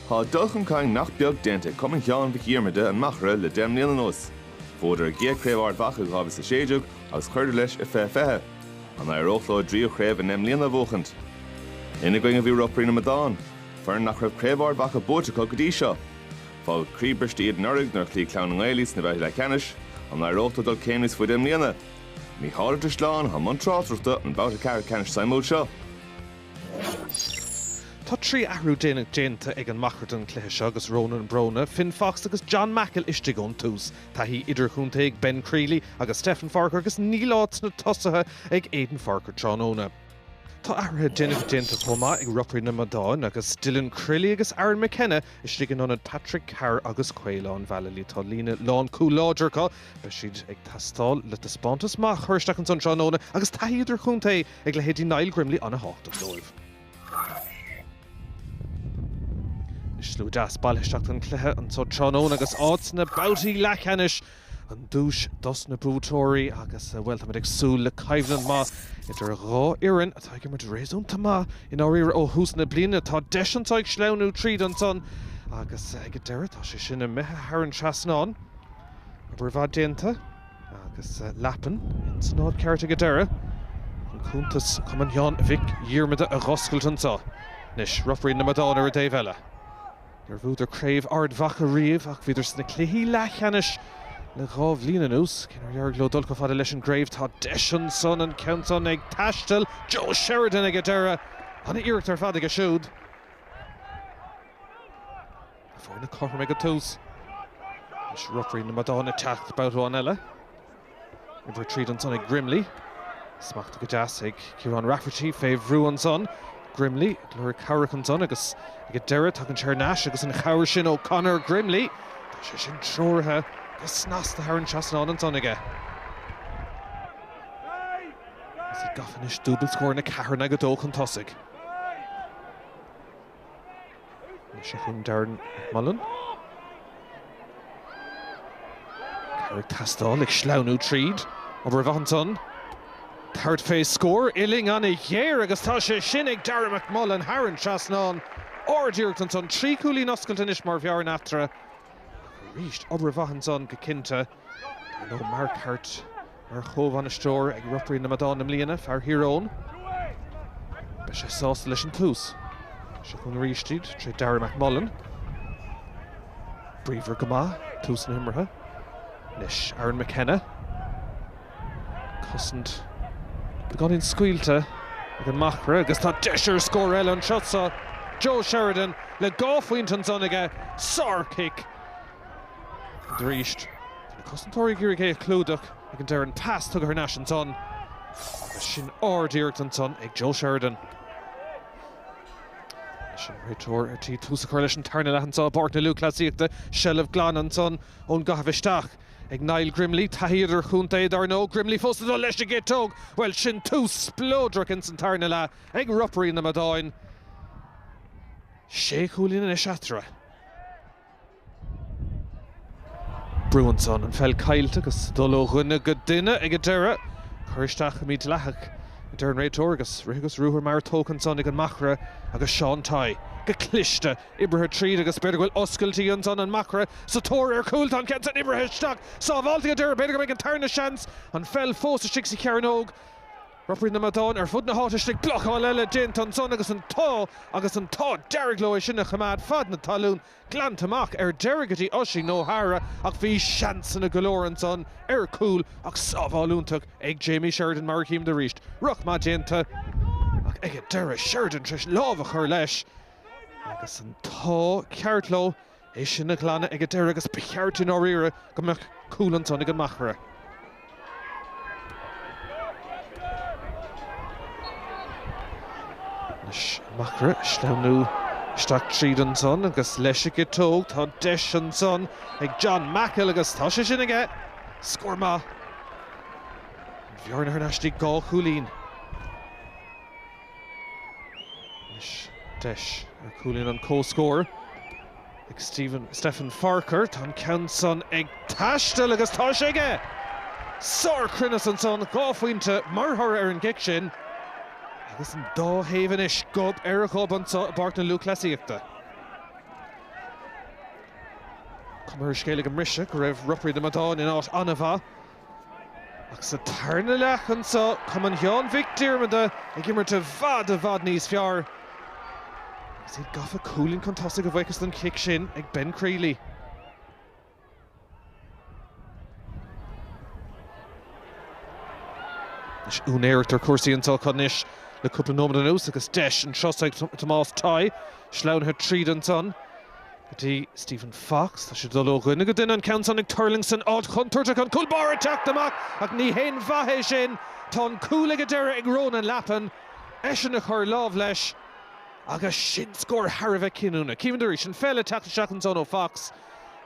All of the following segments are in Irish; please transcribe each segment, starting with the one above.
Tá dul chun cinn nach beag déanta ag Cumann Sheáin Mhic Dhiarmada, An Machaire, le deich mbliana anuas. Bhuadar a gcéad Craobh Ard Mhacha i 2016 agus chuireadar leis i 20 20. An éireodh leo a dtríú craobh i ndeich mbliana a bhuachaint? Ina gcoinne bhí Ropairí na Madán, foireann nach raibh Craobh Ard Mhacha buaite acu go dtí seo. Fágadh croíbriste iad anuraidh nuair a chloígh Clann na nGael iad sna babhtaí leathcheannais. An éireodh leo dul céim níos faide i mbliana? Mícheál Ó Drisleáin, atá i mbun tráchtaireachta an babhta ceathrú ceannais suimiúil seo. Tá trí athrú déanach déanta ag an Machaire don chluiche seo agus Ronan Browne, Finn Fox agus John Mackle istigh ón tús. Taithí idirchontae ag Ben Crealey agus Stefan Forker agus níl áit sna tosaithe ag Aidan Forker tráthnóna. Tá athruithe déanacha déanta chomh maith ag Ropairí na Madán agus Dylan Crilly agus Aaron McKenna istigh in ionad Patrick Carr agus Caolán Vallely. Tá líne lán cúl láidir acu, beidh siad ag teastáil le taispeántas maith a chur isteach ansan tráthnóna agus taithí idirchontae ag leithéidí Niall Grimley ana thábhachtach dóibh. Is slua deas bailithe isteach don chluiche anso tráthnóna agus áit sna babhtaí leathcheannais an duais dos na buaiteoirí agus, bhuel, táimid ag súil le coimhlint maith idir dhá fhoireann atá ag imirt réasúnta maith i ndáiríre ó thús na bliana. Tá deis anso ag sleamhnú tríd ansan agus ag an deireadh tá sé sin imithe thar an trasnán. Obair mhaith déanta. Agus Lappin ins an áit cheart ag an deireadh chun cuntas Chumann Sheáin Mhic Dhiarmada a dh'oscailt anso. Anois, Ropairí na Madán ar an dtaobh eile. Níor bhuadar craobh Ard Mhacha riamh ach bhíodar sna cluichí leathcheannais le dhá bhliain anuas. Cé nár éirigh leo dul chomh fada leis an gcraobh, tá deis ansan an ceann san ag taisteal. Joe Sheridan ag an deireadh. An-iarracht ar fad aige siúd. Foirne cothrom ag an tús is Ropairí na Madán ag teacht babhta amháin eile. Obair tríd ansan ag Grimley. Smachta go deas ag Kieran Rafferty fé bhrú ansan. Grimley ag lorg cabhrach ansan agus ag an deireadh tagann sé thar n-ais agus an chabhair sin ó Conor Grimley. Tá sé sin treoraithe go snasta thar an trasnán ansan aige. Is iad gafa anois dúbailt scór, a ceathair in aghaidh a dó chun tosaigh. Anois é chun Darragh McMullan. Cabhair ag teastáil, ag sleamhnú tríd. Obair mhaith ansan. Tabhairt fé scór uillinn an-ghéar agus tá sé sin ag Darragh McMullan thar an trasnán. Ard-iarracht ansan. Trí chúilín oscailte anois mar bhearna eatarthu. Aríst, obair mhaith ansan go cinnte. Ar ndóigh Mark Harte mar chomhbhainisteoir ag Ropairí na Madán i mbliana, fear Thír Eoghain. Beidh sé sásta leis an tús. Seo chugainn aríst iad, tré Darragh McMullan. Bríomhar go maith tús na himeartha. Anois Aaron McKenna. Cosaint beagáinín scaoilte ag an machaire agus tá deis ar scór eile anso. Joe Sheridan le dhá phointe ansan aige. Sár-chic. Arís na cosantóirí ag iarraidh é a chlúdach ag an deireadh. An pas tugtha thar n-ais ansan agus sin ard-iarracht ansan ag Joe Sheridan. Anois an réiteoir ar tí tús a chur leis an tarna leath anso i bPáirc na Lúthchleasaíochta. Seilbh ghlan ansan ón gcaitheamh isteach. Ag Niall Grimley, taithí idirchontae, dar ndóigh. Grimley fós ag dul leis an gciotóg! Bhuel, sin tús spleodrach ins an tarna leath ag Ropairí na Madan. Sé chúilín anois eatarthu. Brú ansan. An pheil caillte agus ag dul ó dhuine go duine ag an deireadh. Cur isteach mídhleathach, a deir an réiteoir, agus rith agus ruathar mear tógtha ansan ag an Machaire agus Seán Tighe go cliste. Oibrithe tríd agus b'fhéidir go bhfuil oscailt ansan, an Machaire sa tóir ar chúl, tá an ceann san oibrithe isteach, sábháilte ag an deireadh, b'fhéidir go mbeidh an tarna seans, an pheil fós istigh sa chearnóg, Ropairí na Madan ar fud na háite istigh, blocáil eile déanta ansan agus an t-ádh agus an t-ádh dearg leo é sin a choimeád fan na talún, glanta amach ar deireadh go dtí Oisín O'Hara ach bhí seansanna go leor ansan ar chúl ach sábháil iontach ag Jamie Sheridan mar a chímid arís, rith maith déanta ach ag an deireadh, Sheridan tar éis lámh a chur leis. Agus an t-ádh ceart leo, é sin a ghlanadh ag an deireadh agus ba cheart i ndáiríre go mbeadh cúl ansan ag an Machaire. Anois an Machaire ag sleamhnú isteach tríd ansan agus leis an gciotóg. Tá deis ansan ag John Mackle agus tá sé sin aige. Scór maith. An bhearna thar n-ais dtí dhá chúilín. Anois deis ar chúilín an chomhscóir ag Stephen, Stephen Farquhar. Tá an ceann san ag taisteal agus tá sé aige! Sárchruinneas ansan, dhá phointe mar thoradh ar an gcic sin agus an dá thaobh anois gob ar ghob anseo i bPáirc na Lúthchleasaíochta. Cuma ar an scéal ag an mbriseadh go raibh Ropairí na Madan in áit an-mhaith. Ach sa tarna leath anseo, Cumann Sheáin Mhic Diarmada ag imirt i bhfad, i bhfad níos fearr agus iad gafa cúilín chun tosaigh a bhuíochas don chic sin ag Ben Crealey. Anois úinéireacht ar chúrsaí anseo acu anois le cúpla nóiméad anuas agus deis anseo ag Tomás Tighe, sleamhnaithe tríd ansan. Go dtí Stephen Fox. Tá sé ag dul ó dhuine go duine, an ceann san ag tuirlingt san áit chontúirteach, an cúl báire ag teacht amach ach ní haon mhaith é sin. Tá an cúl ag an deireadh ag Ronan Lappin, eisean a chuir lámh leis agus sin scór thar a bheith cinniúnach. Címid arís an pheil ag teacht isteach ansan ó Fox.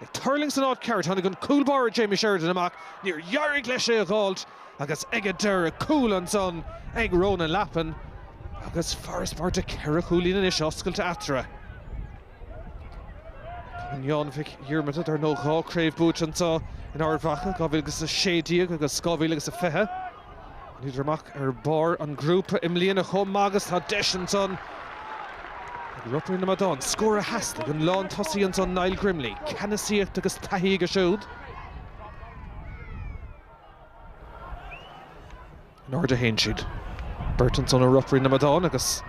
Ag tuirlingt san áit cheart, tháinig an cúl báire Jamie Sheridan amach, níor éirigh leis é a dh'fháilt agus ag an deireadh, cúl ansan ag Ronan Lappin agus farasbarr de ceithre chúilín anois oscailte eatarthu. Sheáin Mhic Dhiarmada, ar ndóigh. Dhá chraobh buaite anseo in Ard Mhacha, 2000 agus 16 agus 2000 agus a 20. Thánadar amach ar bharr an ghrúpa i mbliana chomh maith agus tá deis ansan ag Ropairí na Madán scór a theastaigh. An lán tosaí ansan, Niall Grimley. Ceannasaíocht agus taithí aige siúd. In airde a théann siad, beirt ansan ó Ropairí na Madán, agus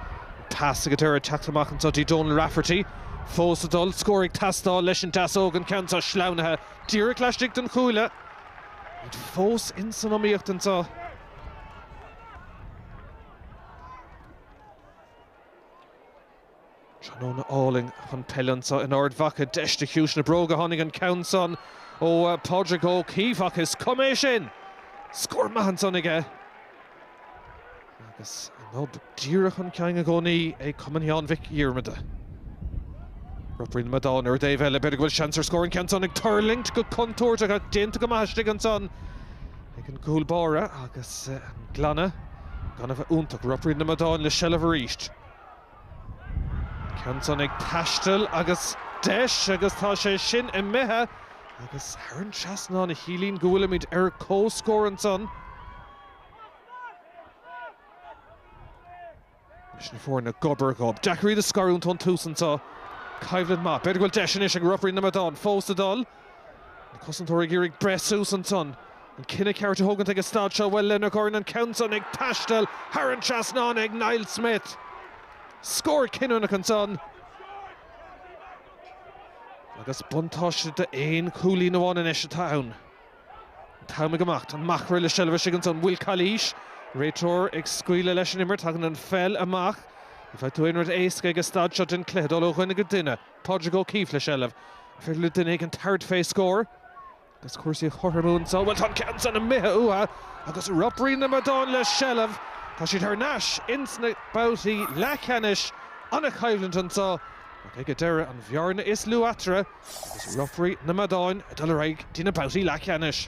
tá sé ag an deireadh teacht amach anso dtí Donal Rafferty. Fós ag dul, scór ag teastáil leis an deasóg, an ceann seo sleamhnaithe díreach laistigh den chuaille. Iad fós in san iomaíocht anso. Tráthnóna álainn chun peile anseo in Ard Mhacha. Deis de chiumhais na bróige a tháinig an ceann san ó Phádraig Ó Caoimh ach is cuma é sin! Scór maith ansan aige agus an nod díreach chun cinn i gcónaí ag Cumann Sheáin Mhic Dhiarmada. Ropairí na Madán ar an dtaobh eile. B'fhéidir go bhfuil seans ar scór an ceann san ag tuirlingt go contúirteach ach déanta go maith istigh ansan ag an gcúl báire agus an glanadh, gan a bheith iontach. Ropairí na Madán le seilbh arís. Ceann san ag taisteal agus deis agus tá sé sin imithe agus thar an trasnán a chiallaíonn go bhfuilimid ar comhscór ansan leis na foirne gob ar ghob. Deacair iad a scarúint ón tús anseo. Coimhlint maith. B'fhéidir go bhfuil deis anois ag Ropairí na Madán fós ag dul. Na cosantóirí ag iarraidh breith suas ansan. An cinneadh ceart a thógaint ag an staid seo, bhuel, lena gcorn an ceann san ag taisteal thar an trasnán ag Niall Smith. Scór cinniúnach ansan. Agus buntáiste d'aon chúilín amháin anois atá ann. An t-am ag imeacht. An Machaire le seilbh istigh ansan. Bhfuil calaois? Réiteoir ag scaoileadh leis an imirt. Tagann an pheil amach. Ní bhfaighidh tú aon rud éasca ag an staid seo den chluiche, dul ó dhuine go duine. Pádraig Ó Caoimh le seilbh. An féidir le duine éigin tabhairt fé scór agus cúrsaí a chothromú anso. Bhuel, tá an ceann san imithe uatha agus Ropairí na Madán le seilbh. Tá siad thar n-ais ins na babhtaí leathcheannais. An-choimhlint anso ach ag an deireadh an bhearna is lú eatarthu agus Ropairí na Madán ag dul ar aghaidh dtí na babhtaí leathcheannais.